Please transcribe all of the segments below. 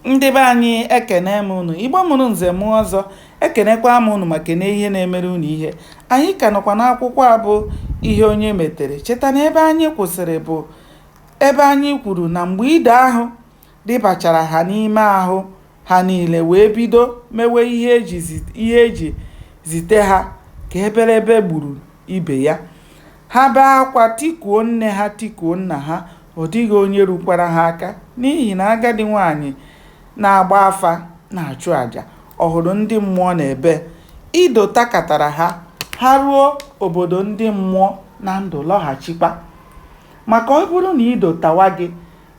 ndị be anyị ekene m unu igbo mụrụ nze mụọ ọzọ ekenekwa m unu ma kene ihe na-emere unu ihe anyị ka nọkwa n'akwụkwọ a bụ ihe onye metere cheta na ebe anyị kwụsịrị bụ ebe anyị kwuru na mgbe ide ahụ dịbachara ha n'ime ahụ ha niile wee bido mewe ihe e ji zite ha ka eberebe gburu ibe ya Ha bee akwa, tikuo nne ha, tikuo nna ha, ọ dịghị onye rukwara ha aka, n'ihi na agadi nwaanyị na-agba afa na-achụ aja. Ọ hụrụ ndị mmụọ n'ebe? Ido takatara ha, ha ruo obodo ndị mmụọ na ndụ lọghachikwa. Maka ọ bụrụ na ido tawa gị,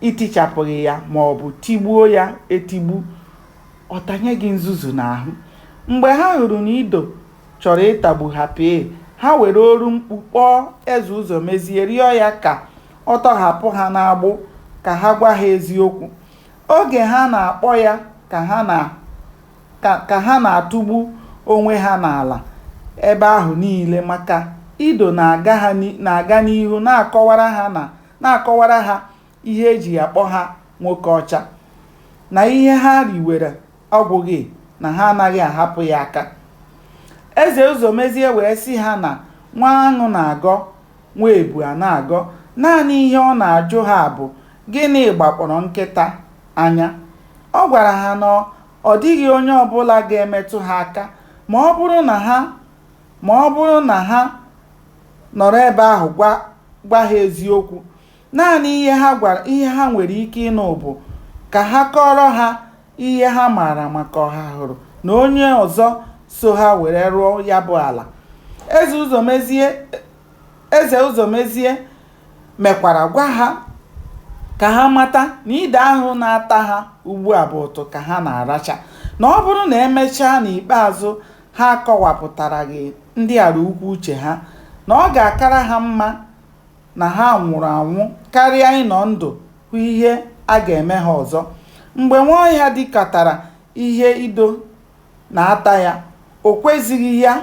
i tichapụghị ya ma ọ bụ tigbuo ya etigbu, ọ tanye gị nzuzu n'ahụ. Mgbe ha hụrụ na ido chọrọ ịtagbu ha pee ha were oru mkpu kpọọ eze ụzọmezie rịọ ya ka ọ tọhapụ ha n'agbụ ka ha gwa ha eziokwu oge ha na-akpọ ya ka ha na-atụgbu onwe ha n'ala ebe ahụ niile maka ido na-aga n'ihu na-akọwara ha ihe e ji akpọ ha nwoke ọcha na ihe ha riwere Ọ gwụghị na ha anaghị ahapụ ya aka. Eze Ụzọmezie wee sị ha na nwa aṅụ na-agọ, nwa ebu a na-agọ. Naanị ihe ọ na-ajụ ha bụ gịnị gbakpọrọ nkịta anya. Ọ gwara ha na ọ dịghị onye ọbụla ga-emetụ ha aka ma ọ bụrụ na ha nọrọ ebe ahụ gwa ha eziokwu. Naanị ihe ha nwere ike ịnụ bụ ka ha kọọrọ ha ihe ha maara maka Ọhahụrụ na onye ọzọ so ha were rụọ ya bụ ala. Eze Ụzọmezie mekwara gwa ha ka ha mata na ide ahụ na-ata ha ugbu a bụ ụtụ ka ha na-aracha, na ọ bụrụ na e mechaa n'ikpeazụ ha akọwapụtaraghị ndị ala ukwu uche ha, na ọ ga-akara ha mma na ha nwụrụ anwụ karịa ịnọ ndụ hụ ihe a ga-eme ha ọzọ. Mgbe Nwaọhịa dikatara ihe ido na-ata ya, o kwezighị ya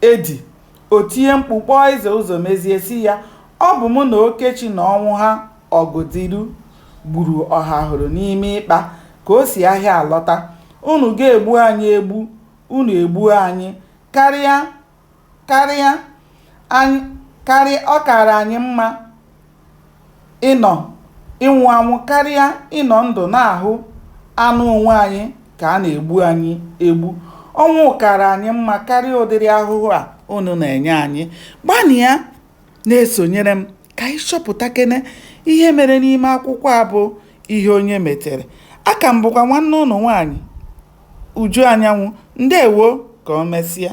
edi, o tinye mkpu kpọọ Eze Ụzọmezie sị ya, Ọ bụ mụ na Okechi na Ọnwụha Ọgụdiru gburu Ọhahụrụ n'ime ịkpa ka o si ahịa alọta. Unu ga-egbu anyị egbu, unu egbuo anyị karịa Karịa, anyị, karịa, ọ kaara anyị mma ịnọ, ịnwụ anwụ karịa ịnọ ndụ na-ahụ anụ onwe anyị ka a na-egbu anyị egbu. Ọnwụ kaara anyị mma karịa ụdịrị ahụhụ a unu na-enye anyị. Gbanịa na-esonyere m ka anyị chọpụtakene ihe mere n'ime akwụkwọ a bụ Ihe Onye Metere. Aka m bụkwa nwanne unu nwaanyị Uju Anyanwụ. Ndewo ka o mesịa.